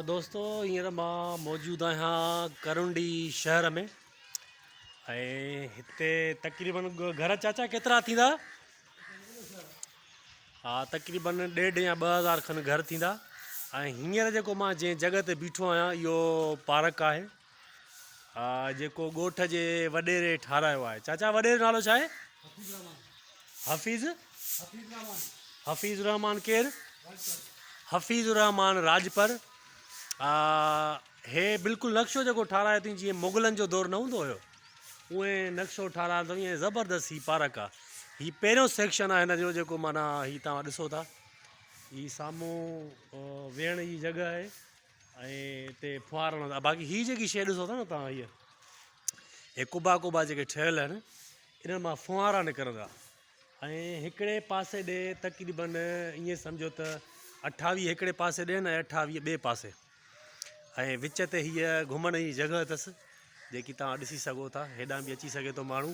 دوستو هينئر مان موجود آهيان ڪرنڊي شهر ۾ ۽ هتي تقريبن گهر چاچا ڪيترا ٿيندا ها تقريبن ڏيڍ يا ٻه هزار کن گهر ٿيندا ۽ هينئر جيڪو مان جنهن جڳهه تي بيٺو آهيان اهو پارڪ آهي ها جيڪو ڳوٺ جي وڏيري ٺارايو آهي چاچا وڏيري نالو ڇا آهي حفيظ حفيظ الرحمان ڪير حفيظ الرحمان راجپر هي بلڪل نقشو جيڪو ٺارايو اٿئين جيئن مغلن جو دور نه هوندو هيو اوئين نقشو ٺارايو اٿئين ۽ زبردست هي پارڪ آهي هي پهريون سيڪشن آهي هن جو جيڪو معنيٰ هي توهان ڏسو ٿا هي سامهون ويهڻ جي جڳهه آهي ۽ تي ڦوهارڻ لاء باقي هي جيڪي شيء ڏسو ٿا نه توهان هيء هي ڪبا ڪبا جيڪي ٺهيل آهن انهن مان ڦوهارا نڪرندا ۽ هڪڙي پاسي ڏي تقريبن ائين سمجهو ته اٺاويهه هڪڙي پاسي ڏي ۽ اٺاويهه ٻئي پاسي ۽ وچ تي هيء گهمڻ جي جڳهه اٿس جيڪي توهان ڏسي سگهو ٿا هيڏانهن به اچي سگهي ٿو ماڻهو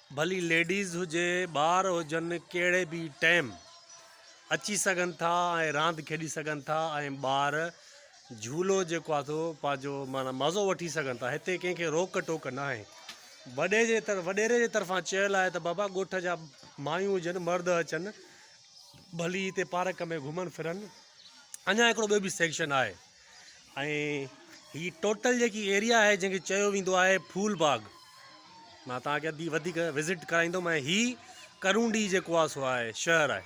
ڀلي ليڊيز هجي ٻار هجن ڪهڙي به ٽيم اچي سگهن ٿا ۽ راند کيڏي سگهن ٿا ۽ ٻار جهولو جيڪو آهي سو پنهنجو معنيٰ مزو وٺي سگهن ٿا هتي ڪنهن کي روڪ ٽوڪ نه آهي وڏي جي طرف وڏيري جي طرفان چيل آهي ته بابا ڳوٺ جا مايون هجن مرد اچن ڀلي هتي پارڪ ۾ گهمن ڦرن اڃا هڪڙو ٻيو به سيڪشن آهي ۽ هي ٽوٽل جيڪي ايريا آهي جنهن کي چيو ويندو آهي ڦول باغ مان توهان کي اڌي وڌيڪ وزٽ ڪرائيندم ۽ هي ڪرونڊي جيڪو آهي سو آهي شهر آهي